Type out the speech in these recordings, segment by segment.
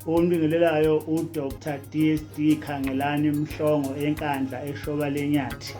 Ombingelelayo uDr DSD Khangelani Mhlongo enkandla eshoba lenyathi.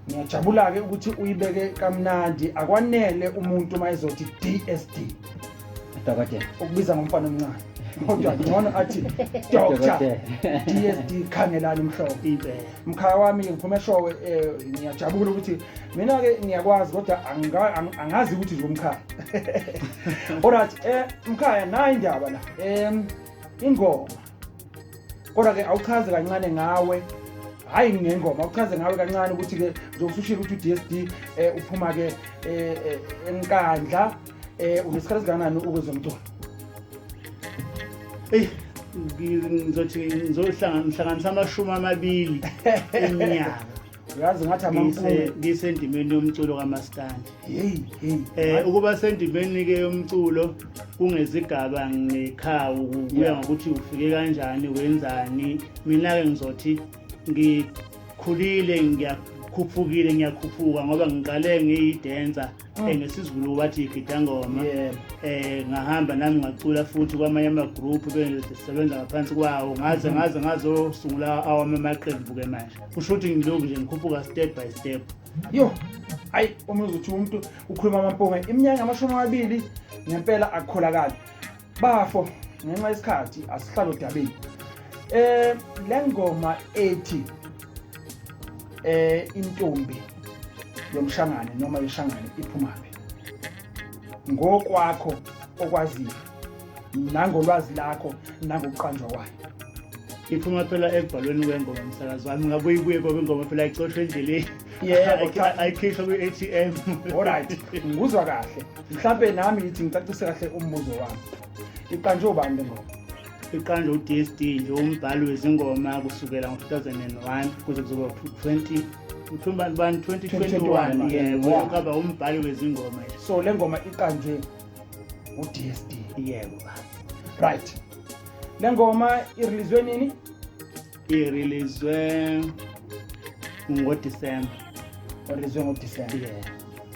Ngiyajabula-ke ukuthi uyibeke kamnandi akwanele umuntu uma ezothi DSD. dokotela ukubiza ngomfana omncane kodwa ngcono athi doctor dsd khangelani mhlobo mkhaya wami ngiphume eshowe eh, ngiyajabula ukuthi mina-ke ngiyakwazi kodwa angazi ukuthi nje umkhaya olright um eh, mkhaya nayi indaba la um ingoma kodwa-ke awuchaze kancane ngawe hhayi ngengoma awuchaze ngawe kancane ukuthi-ke nje usushile ukuthi u-d s d um eh, uphuma-ke um eh, eh, enkandla um unesikhathi esingakanani ukwezomculo eyi ngizothi ngizohlanganisa amashumi amabili eminyaka yazi ngathi amampunge ngisendimeni yomculo kamaskandi hey hey eh ukuba sendimeni ke yomculo kungezigaba ngekhawu kuya ngokuthi ufike kanjani wenzani mina ke ngizothi ngikhulile ngiyakhuphukile ngiyakhuphuka ngoba ngiqale ngiyidenza Mm. Eh, nesizulu wathi igida ngoma yeah. eh ngahamba nami ngacula futhi kwamanye amagroup bengisebenza ngaphansi kwawo ngaze mm-hmm. ngaze ngazosungula awami amaqembu-ke manje kusho ukuthi ngilokhu nje ngikhuphuka step by step yo hayi uma uzothi umuntu ukhuluma amampunga iminyaka amashumi amabili ngempela akukholakali bafo ngenxa yesikhathi asihlalo dabeni eh lengoma ethi eh intombi yomshangane noma yeshangane iphumaphi ngokwakho okwaziyo nangolwazi lakho nangokuqanjwa kwayo iphuma phela ekubhalweni kwengoma msakazi wami ngabuye ibuye kwabengoma phela icoshwe endleleni yeah ayikhishwa kwi-atm olright ngikuzwa kahle mhlawumpe nami ngithi ngicacise kahle umbuzo wami iqanjwe ubani le ngoma iqanjwe u-dsd nje umbhali wezingoma kusukela ngo-2001 kuze kuzoba 20 uthumba bani 2021 yebo kaba umbhali wezingoma so le ngoma iqanjwe u-dsd yebo right le ngoma irelizwe nini irilizwe ngodisemba orizwe ngodisemba yeah.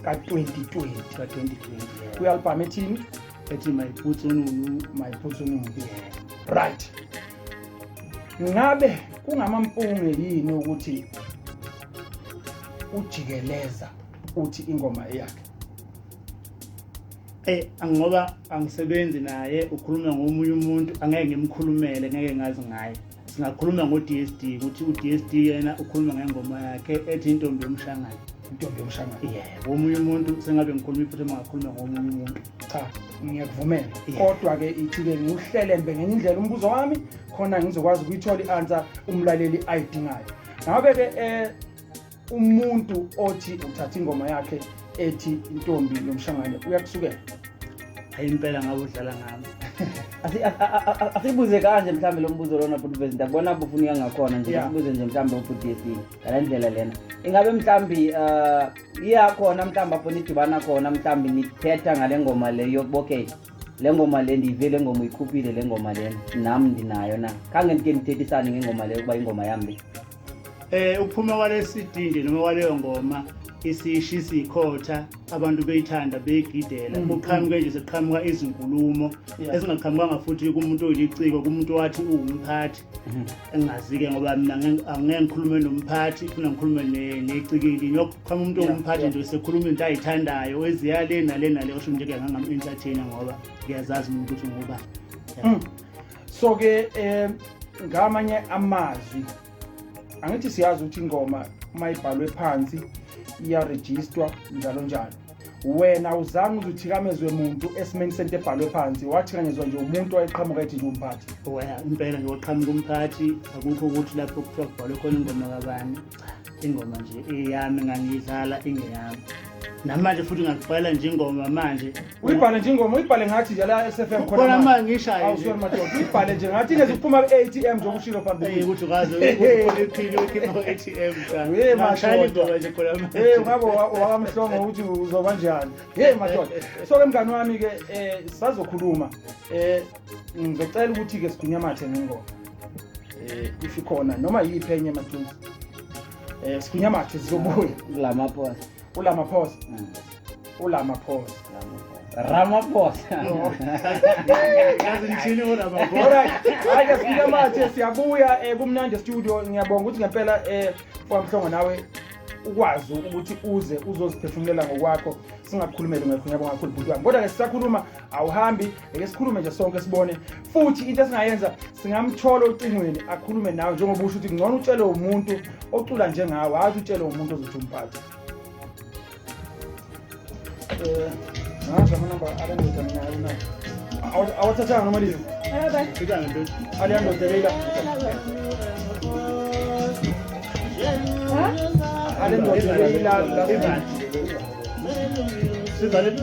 ka-2020 ka-2020 kwi-albhamu ethini ethi my boots onunu my boots onunu right ngabe kungamampunge yini ukuthi ujikeleza uthi ingoma eyakhe eh ngoba angisebenzi naye ukhuluma ngomunye umuntu angeke ngimkhulumele ngeke ngazi ngaye singakhuluma ngo-dsd ukuthi u-dsd yena ukhuluma ngengoma yakhe ethi intombi yomshangane intombi yomshangane ye womunye umuntu sengabe ngikhuluma iphutha mangakhuluma ngomunye umuntu cha ngiyakuvumela kodwa-ke ithi-ke ngiwuhlelembe ngenye indlela umbuzo wami khona ngizokwazi ukuyithola i-ansa umlaleli ayidingayo ngabe-ke um eh, umuntu othi uthatha ingoma yakhe ethi intombi yomshangane uyakusukela hayi impela ngabe udlala ngami asibuze kanje mhlawumbe lo mbuzo lona bhuti vezinto akubona bufunika ngakhona nje sibuze nje mhlawumbe ubhuti yesini ngala ndlela lena ingabe mhlawumbi um uh, iya khona mhlawumbi apho nidibana khona mhlawumbi nithetha ngale ngoma le yokubokey le ngoma le ndiyive le ngoma uyikhuphile le ngoma lena nam ndinayo na khange ndike ndithethisane ngengoma leyo ukuba ingoma yambi Eh ukuphuma kwalesi dindi noma kwaleyo ngoma isishisa ikhotha abantu beyithanda beyigidela mm. kuqhamuke nje sekuqhamuka izinkulumo ezingaqhamukanga futhi kumuntu oyiliciko kumuntu wathi uwumphathi mm-hmm. engazi-ke ngoba mina angeke ngikhulume nomphathi funa ngikhulume necikili ngiyoqhama umuntu owumphathi nje sekhuluma into ayithandayo eziya le nale nale osho nje kuyangangam-entertaina ngoba ngiyazazi mina ukuthi ngoba mm. so ke um ngamanye amazwi angithi siyazi ukuthi ingoma uma ibhalwe phansi iyarejistwa njalo njalo wena uzange uze uthikamezwe muntu esimeni sento ebhalwe phansi wathikamezwa nje umuntu wayeqhamuka ethi nje umphathi impela nje waqhamuka umphathi akukho ukuthi lapho kuthiwa kubhalwe khona ingoma kabani ingoma nje eyami ngangiyidlala ingeyami namanje futhi ngakubhala nje ingoma manje uyibhale nje ingoma uyibhale ngathi nje la SFM khona khona manje ngishaye awusori madoda uyibhale nje ngathi ingeze kuphuma ku-ATM nje okushilo phambili hey ukuthi ukaze uyiphile ukhipha ku-ATM cha hey madoda nje khona manje hey ngabo wakamhlongo ukuthi uzoba njani hey madoda so ke mngani wami ke eh sazokhuluma eh ngizocela ukuthi ke sigwinyamathe ngengoma eh if ikhona noma yiphi enye majuzi eh sigunya mathe sizobuya kulama phosa kulama phosa mm. ulama phosa Ramaphosa. Yazi ngithini ulama phosa. Alright. Hayi sifika manje siyabuya eh, kumnandi studio ngiyabonga ukuthi ngempela eh kwamhlongo nawe ukwazi ukuthi uze uzoziphefumulela ngokwakho singakukhulumeli ngakho ngiyabonga kakhulu bhuti wami kodwa ke sisakhuluma awuhambi ngeke sikhulume nje sonke sibone futhi into esingayenza singamthola ocingweni akhulume nawe njengoba usho ukuthi kungcono utshele umuntu ocula njengawe hhayi ukuthi utshele umuntu ozothi umphathe um ngazi amanamba alendoda minayo na awathathanga noma liyo aliyandoda leila alendoda leila sizaleni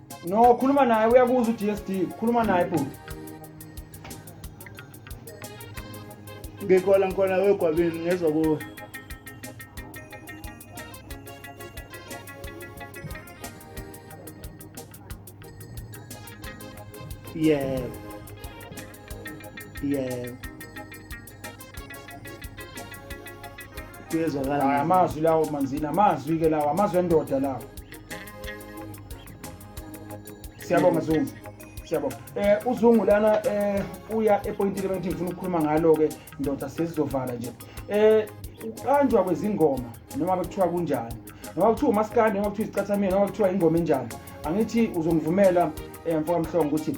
No, khuluma naye uyakuzwa uDSD. Khuluma naye bhuti. Ngikhona ngikhona wegwabini ngezwa kuwe. Yebo. Yebo. kuyezwakala amazwi lawo manzini amazwi ke lawo amazwi endoda lawo siyabonga zungu siyabo eh uzungu lana eh uya epointini bengithi ngifuna ukukhuluma ngalo ke ndoda sesizovala nje eh uqanjwa kwezingoma noma bekuthiwa kunjani noma kuthiwa umaskandi noma kuthiwa izicathamini noma kuthiwa ingoma enjani angithi uzongivumela eh mfoka mhlongo ukuthi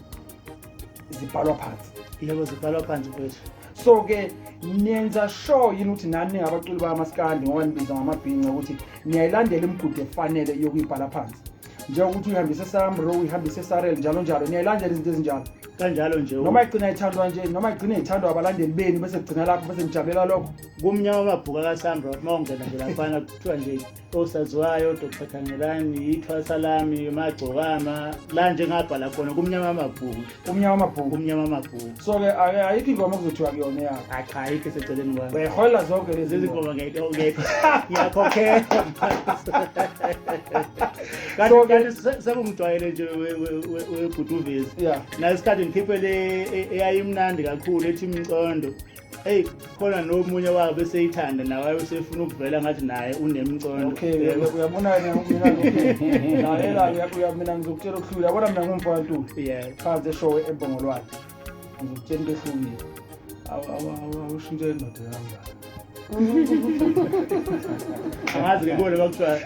zibhalwa phansi yebo zibhalwa phansi kwethu so ke niyenza sure yini ukuthi nani ningabaculi bamaskandi ngoba nibiza ngamabhinca ukuthi niyayilandela imigudu efanele yokuyibhala phansi njengokuthi uyihambise esamro uyihambise esarel njalo njalo niyayilandela izinto ezinjalo kanjalo nje noma igcina ithandwa nje noma igcina ithandwa abalandeli beni bese kugcina lapho bese nijabulela lokho kumnyama amabhuku akasamro uma ungena nje laphana kuthiwa nje osaziwayo dr khangelani ithwasa lami magcokama la njengabhala khona kumnyama amabhuku umnyama amabhuku kumnyama amabhuku so-ke ayikho ingoma kuzothiwa kuyona yakho hayi cha ayikho eseceleni kwami uyayiholela zonke lezi zingoma ngiyakhokhela kanti sekungijwayele nje webhutuvezi nasikhathi ngikhiphe le e, eyayimnandi kakhulu ethi mcondo eyi khona nomunye wabo beseyithanda nawaye usefuna ukuvela ngathi naye unemcondo okay uyabonani mina mina ngizokutshela okuhlule yabona mina ngumfantu phansi eshowe embongolwane ngizokutshela into ehlukile awushintshe indoda yangani angazi ngibone kwakuthiwa